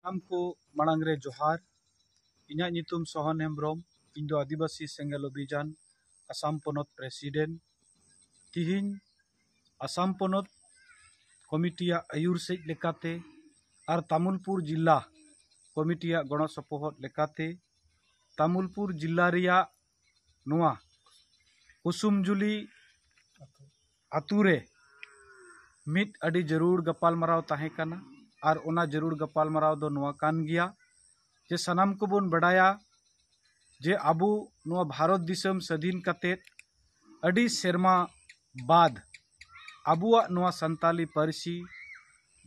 ᱥᱟᱱᱟᱢ ᱠᱚ ᱢᱟᱲᱟᱝ ᱨᱮ ᱡᱚᱦᱟᱨ ᱤᱧᱟᱹᱜ ᱧᱩᱛᱩᱢ ᱥᱚᱦᱚᱱ ᱦᱮᱢᱵᱨᱚᱢ ᱤᱧ ᱫᱚ ᱟᱹᱫᱤᱵᱟᱹᱥᱤ ᱥᱮᱸᱜᱮᱞ ᱚᱵᱷᱤᱡᱟᱱ ᱟᱥᱟᱢ ᱯᱚᱱᱚᱛ ᱯᱨᱮᱥᱤᱰᱮᱱᱴ ᱛᱮᱦᱮᱧ ᱟᱥᱟᱢ ᱯᱚᱱᱚᱛ ᱠᱚᱢᱤᱴᱤᱭᱟᱜ ᱟᱹᱭᱩᱨ ᱥᱮᱫ ᱞᱮᱠᱟᱛᱮ ᱟᱨ ᱛᱟᱢᱩᱞᱯᱩᱨ ᱡᱮᱞᱟ ᱠᱚᱢᱤᱴᱤᱭᱟᱜ ᱜᱚᱲᱚ ᱥᱚᱯᱚᱦᱚᱫ ᱞᱮᱠᱟᱛᱮ ᱛᱟᱢᱩᱞᱯᱩᱨ ᱡᱮᱞᱟ ᱨᱮᱭᱟᱜ ᱱᱚᱣᱟ ᱠᱩᱥᱩᱢᱡᱩᱞᱤ ᱟᱹᱛᱩ ᱨᱮ ᱢᱤᱫ ᱟᱹᱰᱤ ᱡᱟᱹᱨᱩᱲ ᱜᱟᱯᱟᱞᱢᱟᱨᱟᱣ ᱛᱟᱦᱮᱸ ᱠᱟᱱᱟ ᱟᱨ ᱚᱱᱟ ᱡᱟᱹᱨᱩᱲ ᱜᱟᱯᱟᱞᱢᱟᱨᱟᱣ ᱫᱚ ᱱᱚᱣᱟ ᱠᱟᱱ ᱜᱮᱭᱟ ᱡᱮ ᱥᱟᱱᱟᱢ ᱠᱚᱵᱚᱱ ᱵᱟᱰᱟᱭᱟ ᱡᱮ ᱟᱵᱚ ᱱᱚᱣᱟ ᱵᱷᱟᱨᱚᱛ ᱫᱤᱥᱚᱢ ᱥᱟᱹᱫᱷᱤᱱ ᱠᱟᱛᱮ ᱟᱹᱰᱤ ᱥᱮᱨᱢᱟ ᱵᱟᱫᱽ ᱟᱵᱚᱣᱟᱜ ᱱᱚᱣᱟ ᱥᱟᱱᱛᱟᱞᱤ ᱯᱟᱹᱨᱥᱤ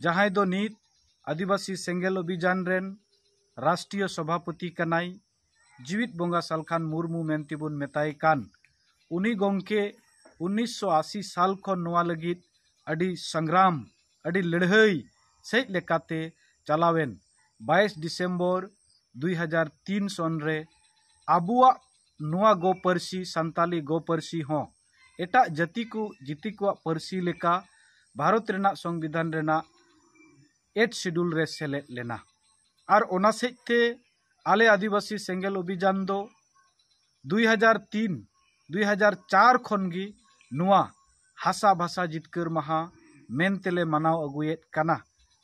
ᱡᱟᱦᱟᱸᱭ ᱫᱚ ᱱᱤᱛ ᱟᱹᱫᱤᱵᱟᱹᱥᱤ ᱥᱮᱸᱜᱮᱞ ᱚᱵᱷᱤᱡᱟᱱ ᱨᱮᱱ ᱨᱟᱥᱴᱨᱤᱭᱚ ᱥᱚᱵᱷᱟᱯᱚᱛᱤ ᱠᱟᱱᱟᱭ ᱡᱤᱣᱤᱫ ᱵᱚᱸᱜᱟ ᱥᱟᱞᱠᱷᱟᱱ ᱢᱩᱨᱢᱩ ᱢᱮᱱᱛᱮ ᱵᱚᱱ ᱢᱮᱛᱟᱭ ᱠᱟᱱ ᱩᱱᱤ ᱜᱚᱢᱠᱮ ᱩᱱᱤᱥᱥᱚ ᱟᱥᱤ ᱥᱟᱞ ᱠᱷᱚᱱ ᱱᱚᱣᱟ ᱞᱟᱹᱜᱤᱫ ᱟᱹᱰᱤ ᱥᱚᱝᱜᱨᱟᱢ ᱟᱹᱰᱤ ᱞᱟᱹᱲᱦᱟᱹᱭ ᱥᱮᱫ ᱞᱮᱠᱟᱛᱮ ᱪᱟᱞᱟᱣᱮᱱ ᱵᱟᱭᱤᱥ ᱰᱤᱥᱮᱢᱵᱚᱨ ᱫᱩᱭ ᱦᱟᱡᱟᱨ ᱛᱤᱱ ᱥᱚᱱ ᱨᱮ ᱟᱵᱚᱣᱟᱜ ᱱᱚᱣᱟ ᱜᱚ ᱯᱟᱹᱨᱥᱤ ᱥᱟᱱᱛᱟᱞᱤ ᱜᱚ ᱯᱟᱹᱨᱥᱤ ᱦᱚᱸ ᱮᱴᱟᱜ ᱡᱟᱹᱛᱤ ᱠᱚ ᱡᱟᱹᱛᱤ ᱠᱚᱣᱟᱜ ᱯᱟᱹᱨᱥᱤ ᱞᱮᱠᱟ ᱵᱷᱟᱨᱚᱛ ᱨᱮᱱᱟᱜ ᱥᱚᱝᱵᱤᱫᱷᱟᱱ ᱨᱮᱱᱟᱜ ᱮᱭᱤᱴ ᱥᱤᱰᱩᱞ ᱨᱮ ᱥᱮᱞᱮᱫ ᱞᱮᱱᱟ ᱟᱨ ᱚᱱᱟ ᱥᱮᱫ ᱛᱮ ᱟᱞᱮ ᱟᱹᱫᱤᱵᱟᱹᱥᱤ ᱥᱮᱸᱜᱮᱞ ᱚᱵᱷᱤᱡᱟᱱ ᱫᱚ ᱫᱩᱭ ᱦᱟᱡᱟᱨ ᱛᱤᱱ ᱫᱩᱭ ᱦᱟᱡᱟᱨ ᱪᱟᱨ ᱠᱷᱚᱱ ᱜᱮ ᱱᱚᱣᱟ ᱦᱟᱥᱟ ᱵᱷᱟᱥᱟ ᱡᱤᱛᱠᱟᱹᱨ ᱢᱟᱦᱟ ᱢᱮᱱ ᱛᱮᱞᱮ ᱢᱟᱱᱟᱣ ᱟᱹᱜᱩᱭᱮᱫ ᱠᱟᱱᱟ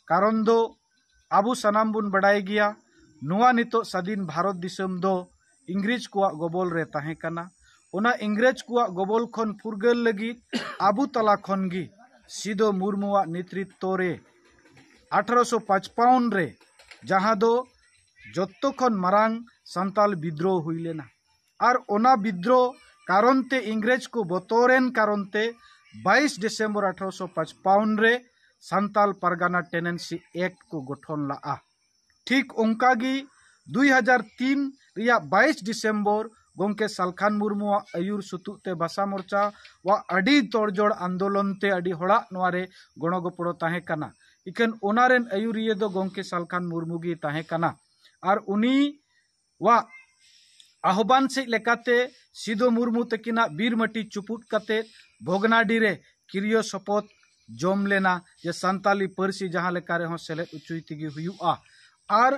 ᱠᱟᱨᱚᱱ ᱫᱚ ᱟᱵᱚ ᱥᱟᱱᱟᱢ ᱵᱚᱱ ᱵᱟᱰᱟᱭ ᱜᱮᱭᱟ ᱱᱚᱣᱟ ᱱᱤᱛᱚᱜ ᱥᱟᱹᱫᱷᱤᱱ ᱵᱷᱟᱨᱚᱛ ᱫᱤᱥᱚᱢ ᱫᱚ ᱤᱝᱨᱮᱡᱽ ᱠᱚᱣᱟᱜ ᱜᱚᱵᱚᱞ ᱨᱮ ᱛᱟᱦᱮᱸ ᱠᱟᱱᱟ ᱚᱱᱟ ᱤᱝᱨᱮᱡᱽ ᱠᱚᱣᱟᱜ ᱜᱚᱵᱚᱞ ᱠᱷᱚᱱ ᱯᱷᱩᱨᱜᱟᱹᱞ ᱞᱟᱹᱜᱤᱫ ᱟᱵᱚ ᱛᱟᱞᱟ ᱠᱷᱚᱱ ᱜᱮ ᱥᱤᱫᱩ ᱢᱩᱨᱢᱩᱣᱟᱜ ᱱᱮᱛᱨᱤᱛᱛᱚ ᱨᱮ ᱟᱴᱷᱨᱚᱥᱚ ᱯᱟᱸᱪᱯᱚᱱ ᱨᱮ ᱡᱟᱦᱟᱸ ᱫᱚ ᱡᱚᱛᱚ ᱠᱷᱚᱱ ᱢᱟᱨᱟᱝ ᱥᱟᱱᱛᱟᱞ ᱵᱤᱫᱽᱫᱨᱳ ᱦᱩᱭ ᱞᱮᱱᱟ ᱟᱨ ᱚᱱᱟ ᱵᱤᱫᱽᱫᱨᱳ ᱠᱟᱨᱚᱱ ᱛᱮ ᱤᱝᱨᱮᱡᱽ ᱠᱚ ᱵᱚᱛᱚᱨᱮᱱ ᱠᱟᱨᱚᱱ ᱛᱮ ᱵᱟᱭᱤᱥ ᱰᱤᱥᱮᱢᱵᱚᱨ ᱟᱴᱷᱨᱚᱥᱚ ᱯᱟᱸᱪᱯᱟᱣᱚᱱ ᱨᱮ ᱥᱟᱱᱛᱟᱞ ᱯᱟᱨᱜᱟᱱᱟ ᱴᱮᱱᱮᱱᱥᱤ ᱮᱠᱴ ᱠᱚ ᱜᱚᱴᱷᱚᱱ ᱞᱟᱜᱼᱟ ᱴᱷᱤᱠ ᱚᱱᱠᱟ ᱜᱮ ᱫᱩᱭ ᱦᱟᱡᱟᱨ ᱛᱤᱱ ᱨᱮᱭᱟᱜ ᱵᱟᱭᱤᱥ ᱰᱤᱥᱮᱢᱵᱚᱨ ᱜᱚᱢᱠᱮ ᱥᱟᱞᱠᱷᱟᱱ ᱢᱩᱨᱢᱩᱣᱟᱜ ᱟᱹᱭᱩᱨ ᱥᱩᱛᱩᱜ ᱛᱮ ᱵᱷᱟᱥᱟ ᱢᱚᱨᱪᱟ ᱣᱟᱜ ᱟᱹᱰᱤ ᱛᱚᱲᱡᱚᱲ ᱟᱱᱫᱳᱞᱚᱱ ᱛᱮ ᱟᱹᱰᱤ ᱦᱚᱲᱟᱜ ᱱᱚᱣᱟ ᱨᱮ ᱜᱚᱲᱚ ᱜᱚᱯᱚᱲᱚ ᱛᱟᱦᱮᱸ ᱠᱟᱱᱟ ᱤᱠᱷᱟᱹᱱ ᱚᱱᱟ ᱨᱮᱱ ᱟᱹᱭᱩᱨᱤᱭᱟᱹ ᱫᱚ ᱜᱚᱢᱠᱮ ᱥᱟᱞᱠᱷᱟᱱ ᱢᱩᱨᱢᱩ ᱜᱮ ᱛᱟᱦᱮᱸ ᱠᱟᱱᱟ ᱟᱨ ᱩᱱᱤᱣᱟᱜ ᱟᱦᱚᱵᱟᱱ ᱥᱮᱡ ᱞᱮᱠᱟᱛᱮ ᱥᱤᱫᱚ ᱢᱩᱨᱢᱩ ᱛᱟᱹᱠᱤᱱᱟᱜ ᱵᱤᱨ ᱢᱟᱹᱴᱤ ᱪᱩᱯᱩᱫ ᱠᱟᱛᱮ ᱵᱷᱚᱜᱽᱱᱟᱰᱤ ᱨᱮ ᱠᱤᱨᱤᱭᱚ ᱥᱚᱯᱚᱛ ᱡᱚᱢ ᱞᱮᱱᱟ ᱡᱮ ᱥᱟᱱᱛᱟᱞᱤ ᱯᱟᱹᱨᱥᱤ ᱡᱟᱦᱟᱸ ᱞᱮᱠᱟ ᱨᱮᱦᱚᱸ ᱥᱮᱞᱮᱫ ᱚᱪᱚᱭ ᱛᱮᱜᱮ ᱦᱩᱭᱩᱜᱼᱟ ᱟᱨ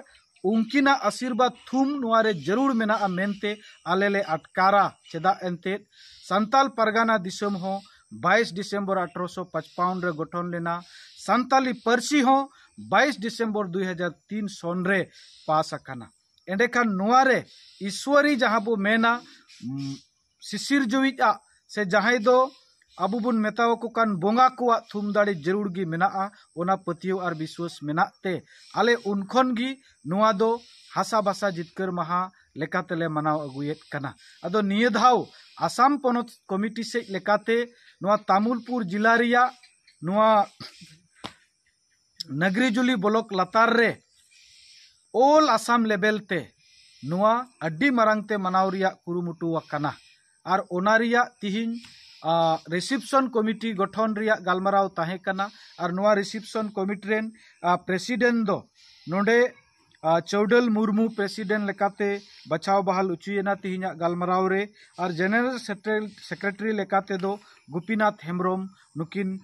ᱩᱱᱠᱤᱱᱟᱜ ᱟᱥᱤᱨᱵᱟᱫᱽ ᱛᱷᱩᱢ ᱱᱚᱣᱟ ᱨᱮ ᱡᱟᱹᱨᱩᱲ ᱢᱮᱱᱟᱜᱼᱟ ᱢᱮᱱᱛᱮ ᱟᱞᱮ ᱞᱮ ᱟᱴᱠᱟᱨᱟ ᱪᱮᱫᱟᱜ ᱮᱱᱛᱮᱫ ᱥᱟᱱᱛᱟᱞ ᱯᱟᱨᱜᱟᱱᱟ ᱫᱤᱥᱚᱢ ᱦᱚᱸ ᱵᱟᱭᱤᱥ ᱰᱤᱥᱮᱢᱵᱚᱨ ᱟᱴᱷᱨᱚ ᱥᱚ ᱯᱟᱪᱯᱟᱣᱚᱱ ᱨᱮ ᱜᱚᱴᱷᱚᱱ ᱞᱮᱱᱟ ᱥᱟᱱᱛᱟᱞᱤ ᱯᱟᱹᱨᱥᱤ ᱦᱚᱸ ᱵᱟᱭᱤᱥ ᱰᱤᱥᱮᱢᱵᱚᱨ ᱫᱩᱭ ᱦᱟᱡᱟᱨ ᱛᱤᱱ ᱥᱚᱱ ᱨᱮ ᱯᱟᱥ ᱟᱠᱟᱱᱟ ᱮᱸᱰᱮᱠᱷᱟᱱ ᱱᱚᱣᱟ ᱨᱮ ᱤᱥᱣᱟᱹᱨᱤ ᱡᱟᱦᱟᱸ ᱵᱚ ᱢᱮᱱᱟ ᱥᱤᱥᱤᱨᱡᱟᱹᱣᱤᱡ ᱟᱜ ᱥᱮ ᱡᱟᱦᱟᱸᱭ ᱫᱚ ᱟᱵᱚ ᱵᱚᱱ ᱢᱮᱛᱟ ᱟᱠᱚ ᱠᱟᱱ ᱵᱚᱸᱜᱟ ᱠᱚᱣᱟᱜ ᱛᱷᱩᱢ ᱫᱟᱲᱮ ᱡᱟᱹᱨᱩᱲ ᱜᱮ ᱢᱮᱱᱟᱜᱼᱟ ᱚᱱᱟ ᱯᱟᱹᱛᱭᱟᱹᱣ ᱟᱨ ᱵᱤᱥᱣᱟᱹᱥ ᱢᱮᱱᱟᱜ ᱛᱮ ᱟᱞᱮ ᱩᱱ ᱠᱷᱚᱱ ᱜᱮ ᱱᱚᱣᱟ ᱫᱚ ᱦᱟᱥᱟ ᱵᱷᱟᱥᱟ ᱡᱤᱛᱠᱟᱹᱨ ᱢᱟᱦᱟ ᱞᱮᱠᱟ ᱛᱮᱞᱮ ᱢᱟᱱᱟᱣ ᱟᱹᱜᱩᱭᱮᱫ ᱠᱟᱱᱟ ᱟᱫᱚ ᱱᱤᱭᱟᱹ ᱫᱷᱟᱣ ᱟᱥᱟᱢ ᱯᱚᱱᱚᱛ ᱠᱚᱢᱤᱴᱤ ᱥᱮᱫ ᱞᱮᱠᱟᱛᱮ ᱱᱚᱣᱟ ᱛᱟᱢᱩᱞᱯᱩᱨ ᱡᱮᱞᱟ ᱨᱮᱭᱟᱜ ᱱᱚᱣᱟ ᱱᱟᱜᱽᱨᱤᱡᱩᱞᱤ ᱵᱚᱞᱚᱠ ᱞᱟᱛᱟᱨ ᱨᱮ ᱚᱞ ᱟᱥᱟᱢ ᱞᱮᱵᱮᱞ ᱛᱮ ᱱᱚᱣᱟ ᱟᱹᱰᱤ ᱢᱟᱨᱟᱝ ᱛᱮ ᱢᱟᱱᱟᱣ ᱨᱮᱭᱟᱜ ᱠᱩᱨᱩᱢᱩᱴᱩ ᱟᱠᱟᱱᱟ ᱟᱨ ᱚᱱᱟ ᱨᱮᱭᱟᱜ ᱛᱤᱦᱤᱧ ᱨᱤᱥᱤᱯᱥᱚᱱ ᱠᱚᱢᱤᱴᱤ ᱜᱚᱴᱷᱚᱱ ᱨᱮᱭᱟᱜ ᱜᱟᱞᱢᱟᱨᱟᱣ ᱛᱟᱦᱮᱸ ᱠᱟᱱᱟ ᱟᱨ ᱱᱚᱣᱟ ᱨᱤᱥᱤᱯᱥᱚᱱ ᱠᱚᱢᱤᱴᱤ ᱨᱮᱱ ᱯᱨᱮᱥᱤᱰᱮᱱᱴ ᱫᱚ ᱱᱚᱰᱮ ᱪᱟᱹᱣᱰᱟᱹᱞ ᱢᱩᱨᱢᱩ ᱯᱨᱮᱥᱤᱰᱮᱱᱴ ᱞᱮᱠᱟᱛᱮ ᱵᱟᱪᱷᱟᱣ ᱵᱟᱦᱟᱞ ᱚᱪᱚᱭᱮᱱᱟ ᱛᱮᱦᱮᱧᱟᱜ ᱜᱟᱞᱢᱟᱨᱟᱣ ᱨᱮ ᱟᱨ ᱡᱮᱱᱟᱨᱮᱞ ᱥᱮᱠᱨᱮᱴᱟᱨᱤ ᱞᱮᱠᱟ ᱛᱮᱫᱚ ᱜᱩᱯᱤᱱᱟᱛᱷ ᱦᱮᱢᱵᱨᱚᱢ ᱱᱩᱠᱤᱱ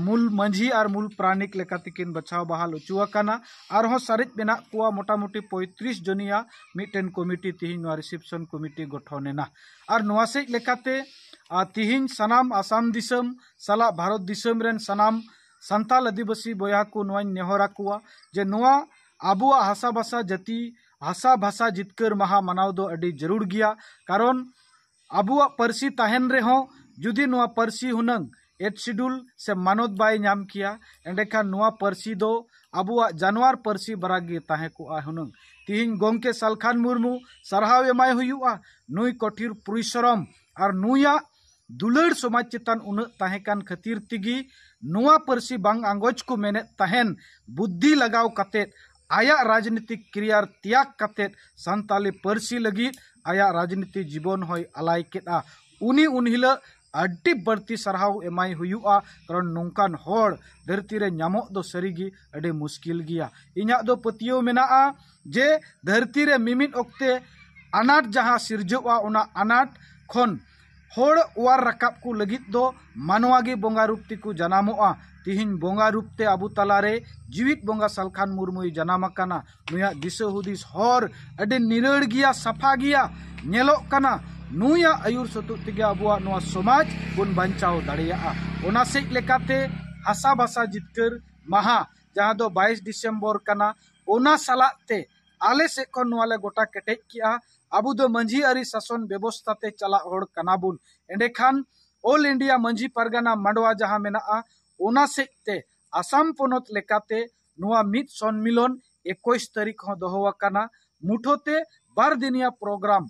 ᱢᱩᱞ ᱢᱟᱹᱡᱷᱤ ᱟᱨ ᱢᱩᱞ ᱯᱟᱨᱟᱱᱤᱠ ᱞᱮᱠᱟ ᱛᱮᱠᱤᱱ ᱵᱟᱪᱷᱟᱣ ᱵᱟᱦᱟᱞ ᱚᱪᱚ ᱟᱠᱟᱱᱟ ᱟᱨᱦᱚᱸ ᱥᱟᱨᱮᱡ ᱢᱮᱱᱟᱜ ᱠᱚᱣᱟ ᱢᱳᱴᱟᱢᱩᱴᱤ ᱯᱚᱸᱭᱛᱨᱤᱥ ᱡᱚᱱᱤᱭᱟ ᱢᱤᱫᱴᱮᱱ ᱠᱚᱢᱤᱴᱤ ᱛᱮᱦᱮᱧ ᱱᱚᱣᱟ ᱨᱤᱥᱮᱯᱥᱚᱱ ᱠᱚᱢᱤᱴᱤ ᱜᱚᱴᱷᱚᱱ ᱮᱱᱟ ᱟᱨ ᱱᱚᱣᱟ ᱥᱮᱡ ᱞᱮᱠᱟᱛᱮ ᱛᱮᱦᱮᱧ ᱥᱟᱱᱟᱢ ᱟᱥᱟᱢ ᱫᱤᱥᱚᱢ ᱥᱟᱞᱟᱜ ᱵᱷᱟᱨᱚᱛ ᱫᱤᱥᱚᱢ ᱨᱮᱱ ᱥᱟᱱᱟᱢ ᱥᱟᱱᱛᱟᱞ ᱟᱹᱫᱤᱵᱟᱹᱥᱤ ᱵᱚᱭᱦᱟ ᱠᱚ ᱱᱚᱣᱟᱧ ᱱᱮᱦᱚᱨ ᱟᱠᱚᱣᱟ ᱡᱮ ᱱᱚᱣᱟ ᱟᱵᱚᱣᱟᱜ ᱦᱟᱥᱟ ᱵᱷᱟᱥᱟ ᱡᱟᱹᱛᱤ ᱦᱟᱥᱟ ᱵᱷᱟᱥᱟ ᱡᱤᱛᱠᱟᱹᱨ ᱢᱟᱦᱟ ᱢᱟᱱᱟᱣ ᱫᱚ ᱟᱹᱰᱤ ᱡᱟᱹᱨᱩᱲ ᱜᱮᱭᱟ ᱠᱟᱨᱚᱱ ᱟᱵᱚᱣᱟᱜ ᱯᱟᱹᱨᱥᱤ ᱛᱟᱦᱮᱱ ᱨᱮᱦᱚᱸ ᱡᱩᱫᱤ ᱱᱚᱣᱟ ᱯᱟᱹᱨᱥᱤ ᱦᱩᱱᱟᱹᱝ ᱮᱭᱤᱴ ᱥᱤᱰᱩᱞ ᱥᱮ ᱢᱟᱱᱚᱛ ᱵᱟᱭ ᱧᱟᱢ ᱠᱮᱭᱟ ᱮᱸᱰᱮᱠᱷᱟᱱ ᱱᱚᱣᱟ ᱯᱟᱹᱨᱥᱤ ᱫᱚ ᱟᱵᱚᱣᱟᱜ ᱡᱟᱱᱣᱟᱨ ᱯᱟᱹᱨᱥᱤ ᱵᱟᱨᱟ ᱜᱮ ᱛᱟᱦᱮᱸ ᱠᱚᱜᱼᱟ ᱦᱩᱱᱟᱹᱝ ᱛᱮᱦᱮᱧ ᱜᱚᱢᱠᱮ ᱥᱟᱞᱠᱷᱟᱱ ᱢᱩᱨᱢᱩ ᱥᱟᱨᱦᱟᱣ ᱮᱢᱟᱭ ᱦᱩᱭᱩᱜᱼᱟ ᱱᱩᱭ ᱠᱚᱴᱷᱤᱨ ᱯᱚᱨᱤᱥᱨᱚᱢ ᱟᱨ ᱱᱩᱭᱟᱜ ᱫᱩᱞᱟᱹᱲ ᱥᱚᱢᱟᱡᱽ ᱪᱮᱛᱟᱱ ᱩᱱᱟᱹᱜ ᱛᱟᱦᱮᱸ ᱠᱟᱱ ᱠᱷᱟᱹᱛᱤᱨ ᱛᱮᱜᱮ ᱱᱚᱣᱟ ᱯᱟᱹᱨᱥᱤ ᱵᱟᱝ ᱟᱸᱜᱚᱪ ᱠᱚ ᱢᱮᱱᱮᱫ ᱛᱟᱦᱮᱸᱫ ᱵᱩᱫᱽᱫᱷᱤ ᱞᱟᱜᱟᱣ ᱠᱟᱛᱮ ᱟᱭᱟᱜ ᱨᱟᱡᱽᱱᱤᱛᱤᱠ ᱠᱮᱨᱤᱭᱟᱨ ᱛᱮᱭᱟᱜᱽ ᱠᱟᱛᱮ ᱥᱟᱱᱛᱟᱲᱤ ᱯᱟᱹᱨᱥᱤ ᱞᱟᱹᱜᱤᱫ ᱟᱭᱟᱜ ᱨᱟᱡᱽᱱᱤᱛᱤ ᱡᱤᱵᱚᱱ ᱦᱚᱸᱭ ᱟᱞᱟᱭ ᱠᱮᱫᱼᱟ ᱩᱱᱤ ᱩᱱ ᱦᱤᱞᱳᱜ ᱟᱹᱰᱤ ᱵᱟᱹᱲᱛᱤ ᱥᱟᱨᱦᱟᱣ ᱮᱢᱟᱭ ᱦᱩᱭᱩᱜᱼᱟ ᱠᱟᱨᱚᱱ ᱱᱚᱝᱠᱟᱱ ᱦᱚᱲ ᱫᱷᱟᱹᱨᱛᱤ ᱨᱮ ᱧᱟᱢᱚᱜ ᱫᱚ ᱥᱟᱹᱨᱤ ᱜᱮ ᱟᱹᱰᱤ ᱢᱩᱥᱠᱤᱞ ᱜᱮᱭᱟ ᱤᱧᱟᱹᱜ ᱫᱚ ᱯᱟᱹᱛᱭᱟᱹᱣ ᱢᱮᱱᱟᱜᱼᱟ ᱡᱮ ᱫᱷᱟᱹᱨᱛᱤ ᱨᱮ ᱢᱤᱢᱤᱫ ᱚᱠᱛᱮ ᱟᱱᱟᱴ ᱡᱟᱦᱟᱸ ᱥᱤᱨᱡᱟᱹᱜᱼᱟ ᱚᱱᱟ ᱟᱱᱟᱴ ᱠᱷᱚᱱ ᱦᱚᱲ ᱚᱣᱟᱨ ᱨᱟᱠᱟᱵ ᱠᱚ ᱞᱟᱹᱜᱤᱫ ᱫᱚ ᱢᱟᱱᱣᱟ ᱜᱮ ᱵᱚᱸᱜᱟ ᱨᱩᱯ ᱛᱮᱠᱚ ᱡᱟᱱᱟᱢᱚᱜᱼᱟ ᱛᱮᱦᱮᱧ ᱵᱚᱸᱜᱟ ᱨᱩᱯ ᱛᱮ ᱟᱵᱚ ᱛᱟᱞᱟ ᱨᱮ ᱡᱤᱣᱮᱫ ᱵᱚᱸᱜᱟ ᱥᱟᱞᱠᱷᱟᱱ ᱢᱩᱨᱢᱩᱭ ᱡᱟᱱᱟᱢ ᱟᱠᱟᱱᱟ ᱱᱩᱭᱟᱜ ᱫᱤᱥᱟᱹ ᱦᱩᱫᱤᱥ ᱦᱚᱨ ᱟᱹᱰᱤ ᱱᱤᱨᱟᱹᱲ ᱜᱮᱭᱟ ᱥᱟᱯᱷᱟ ᱜᱮᱭᱟ ᱧᱮᱞᱚᱜ ᱠᱟᱱᱟ ᱱᱩᱭᱟᱜ ᱟᱹᱭᱩᱨ ᱥᱟᱹᱛᱩᱜ ᱛᱮᱜᱮ ᱟᱵᱚᱣᱟᱜ ᱱᱚᱣᱟ ᱥᱚᱢᱟᱡᱽ ᱵᱚᱱ ᱵᱟᱧᱪᱟᱣ ᱫᱟᱲᱮᱭᱟᱜᱼᱟ ᱚᱱᱟ ᱥᱮᱫ ᱞᱮᱠᱟᱛᱮ ᱦᱟᱥᱟ ᱵᱷᱟᱥᱟ ᱡᱤᱛᱠᱟᱹᱨ ᱢᱟᱦᱟ ᱡᱟᱦᱟᱸ ᱫᱚ ᱵᱟᱭᱤᱥ ᱰᱤᱥᱮᱢᱵᱚᱨ ᱠᱟᱱᱟ ᱚᱱᱟ ᱥᱟᱞᱟᱜ ᱛᱮ ᱟᱞᱮ ᱥᱮᱫ ᱠᱷᱚᱱ ᱱᱚᱣᱟ ᱞᱮ ᱜᱚᱴᱟ ᱠᱮᱴᱮᱡ ᱠᱮᱜᱼᱟ ᱟᱵᱚ ᱫᱚ ᱢᱟᱹᱡᱷᱤ ᱟᱹᱨᱤ ᱥᱟᱥᱚᱱ ᱵᱮᱵᱚᱥᱛᱷᱟ ᱛᱮ ᱪᱟᱞᱟᱜ ᱦᱚᱲ ᱠᱟᱱᱟ ᱵᱚᱱ ᱮᱸᱰᱮ ᱠᱷᱟᱱ ᱚᱞ ᱤᱱᱰᱤᱭᱟ ᱢᱟᱹᱡᱷᱤ ᱯᱟᱨᱜᱟᱱᱟ ᱢᱟᱰᱣᱟ ᱡᱟᱦᱟᱸ ᱢᱮᱱᱟᱜᱼᱟ ᱚᱱᱟ ᱥᱮᱫ ᱛᱮ ᱟᱥᱟᱢ ᱯᱚᱱᱚᱛ ᱞᱮᱠᱟᱛᱮ ᱱᱚᱣᱟ ᱢᱤᱫ ᱥᱚᱱᱢᱤᱞᱚᱱ ᱮᱠᱩᱥ ᱛᱟᱹᱨᱤᱠᱷ ᱦᱚᱸ ᱫᱚᱦᱚ ᱟᱠᱟᱱᱟ ᱢᱩᱴᱷᱟᱹ ᱛᱮ ᱵᱟᱨ ᱫᱤᱱᱤᱭᱟ ᱯᱨᱳᱜᱨᱟᱢ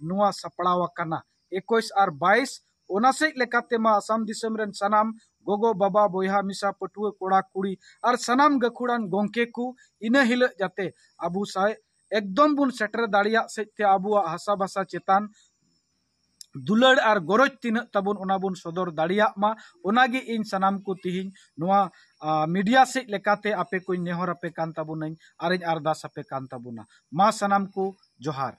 ᱱᱚᱣᱟ ᱥᱟᱯᱲᱟᱣ ᱟᱠᱟᱱᱟ ᱮᱠᱩᱥ ᱟᱨ ᱵᱟᱭᱤᱥ ᱚᱱᱟ ᱥᱮᱡ ᱞᱮᱠᱟᱛᱮ ᱢᱟ ᱟᱥᱟᱢ ᱫᱤᱥᱚᱢ ᱨᱮᱱ ᱥᱟᱱᱟᱢ ᱜᱚᱜᱚ ᱵᱟᱵᱟ ᱵᱚᱭᱦᱟ ᱢᱤᱥᱟ ᱯᱟᱹᱴᱷᱩᱣᱟᱹ ᱠᱚᱲᱟ ᱠᱩᱲᱤ ᱟᱨ ᱥᱟᱱᱟᱢ ᱜᱟᱹᱠᱷᱩᱲᱟᱱ ᱜᱚᱝᱠᱮ ᱠᱚ ᱤᱱᱟᱹ ᱦᱤᱞᱟᱹᱜ ᱡᱟᱛᱮ ᱟᱵᱚ ᱥᱟᱶ ᱮᱠᱫᱚᱢ ᱵᱚᱱ ᱥᱮᱴᱮᱨ ᱫᱟᱲᱮᱭᱟᱜ ᱥᱮᱡ ᱛᱮ ᱟᱵᱚᱣᱟᱜ ᱦᱟᱥᱟ ᱵᱷᱟᱥᱟ ᱪᱮᱛᱟᱱ ᱫᱩᱞᱟᱹᱲ ᱟᱨ ᱜᱚᱨᱚᱡᱽ ᱛᱤᱱᱟᱹᱜ ᱛᱟᱵᱚᱱ ᱚᱱᱟ ᱵᱚᱱ ᱥᱚᱫᱚᱨ ᱫᱟᱲᱮᱭᱟᱜ ᱢᱟ ᱚᱱᱟ ᱜᱮ ᱤᱧ ᱥᱟᱱᱟᱢ ᱠᱚ ᱛᱤᱦᱤᱧ ᱱᱚᱣᱟ ᱢᱤᱰᱤᱭᱟ ᱥᱮᱡ ᱞᱮᱠᱟᱛᱮ ᱟᱯᱮ ᱠᱚᱧ ᱱᱮᱦᱚᱨ ᱟᱯᱮ ᱠᱟᱱ ᱛᱟᱵᱚᱱᱟᱹᱧ ᱟᱨᱤᱧ ᱟᱨᱫᱟᱥ ᱟᱯᱮ ᱠᱟᱱ ᱛᱟᱵᱚᱱᱟ ᱢᱟ ᱥᱟᱱᱟᱢ ᱠᱚ ᱡᱚᱦᱟᱨ